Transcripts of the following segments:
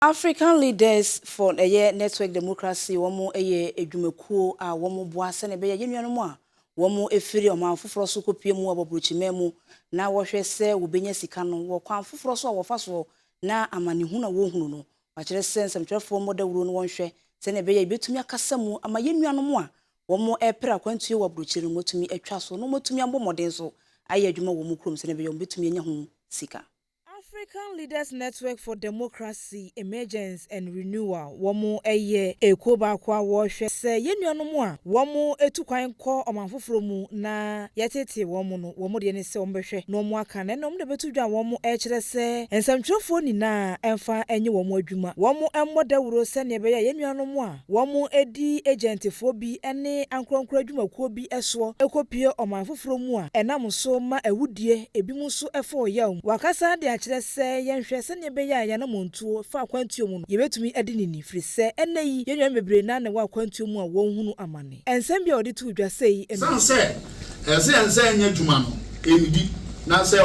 African Leaders for ɛyɛ Network Democracy wɔn yɛ adwumakuo a wɔn boa sɛnea ɛbɛyɛ yɛn nuanom a wɔn firi ɔman foforɔ so kɔ pue mu wɔ abrokyiman mu na wɔhwɛ sɛ wɔbɛnya sika no wɔ kwan foforɔ so a wɔfa soɔ na amanehunu a wɔhunu no wɔakyerɛ sɛ nsɛmtwerɛfoɔ mmɔ dawuro no wɔnhwɛ sɛnea ɛbɛyɛ yɛbɛtumi akasa mu ama yɛn nuanom a wɔn ɛpere akwantuo wɔ abrokyire no wɔatumi atwa so na wɔatumi abɔ mmɔden so ayɛ adwuma wɔ wɔn kurom sɛnea ɛbɛyɛ wɔbɛtumi anya ho sika. African Leaders Network for Democracy, Emergence and Renewal wɔn yɛ ekuo baako a wɔhwɛ sɛ yɛn nuanom a wɔn tu kwan kɔ ɔman foforɔ mu na yɛtetee wɔn no wɔn deɛ ne sɛ wɔn bɛhwɛ na wɔn aka na ɛnna wɔn na bɛto dwa a wɔn rekyerɛ sɛ nsɛmtwerɛfoɔ nyinaa mfa nyɛ wɔn adwuma wɔn mmɔ dawuro sɛdeɛ ɛbɛyɛ a yɛn nuanom a wɔdi agyɛntefoɔ bi ne ankorɔnkorɔ adwumakuo bi soɔ kɔpue ɔman foforɔ mu a, ɛnam so ma awudie, ebinom nso fa ɔyaw mu. Wakasa de akyerɛ sɛ, Yɛnhwɛ sɛnea ɛbɛyɛ a yɛn anammɔntuo fa akwantuo mu no, yɛbɛtumi adi no ni, ɛfiri sɛ ɛnnɛ yi yɛn nuanom bebree na na ɛwɔ akwantuo mu a wɔrehunu amane. Nsɛm bi a ɔde too dwa sei ne. Ɛsiane sɛ ɛsɛ sɛ yɛn nsa anya adwuma no, yɛnnidi, na sɛ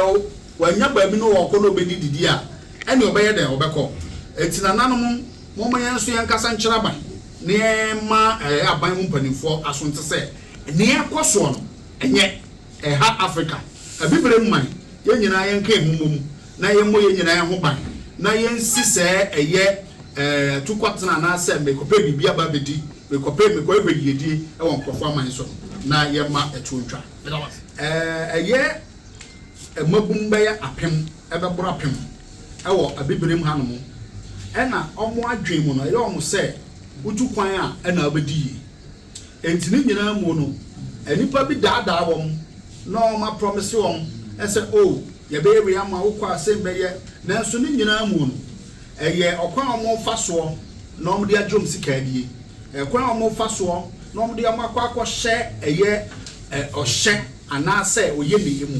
wɔannya baabi na wɔrekɔ na wɔbɛdi didi a, ɛnneɛ wɔbɛyɛ dɛn? Wɔbɛkɔ. Enti nananom. Momma yɛn nso yɛnkasa nkyerɛ aban na yɛmma aban mu mpanimfoɔ aso nte sɛ nea ɛrekɔ soɔ no nyɛ ɛha Afrika Abibirem man. Yɛn nyinaa yɛnka yɛn ho mmom na yɛmmɔ yɛn nyinaa ho ban na yɛnsi sɛ ɛyɛ atukɔtena anaasɛ merekɔpɛ biribi aba abɛdi, merekɔpɛ, merekɔhwehwɛ yiedie wɔ nkurɔfoɔ aman so no na yɛmma ɛtoɔ ntwa. Meda wo ase. Ɛyɛ mmabun bɛyɛ apem, ɛbɛboro apem wɔ Abibirim hanom, ɛna wɔn adwene mu no, ɛyɛ wɔn sɛ wotu kwan a, ɛna wobɛdi yie. Enti ne nyinaa mu no, nnipa bi daadaa wɔn na wɔaprɔmese wɔn sɛ, O, yɛbɛyɛ wei ama wo, wokɔ a, sei bɛyɛ. Nanso ne nyinaa mu no, ɛyɛ ɔkwan a wɔfa soɔ na wɔde agye wɔn sika adie, ɛkwan a wɔfa soɔ na wɔde wɔn akɔ akɔhyɛ ɛyɛ ɔhyɛ anaasɛ ɔyɛ ne yɛ mu.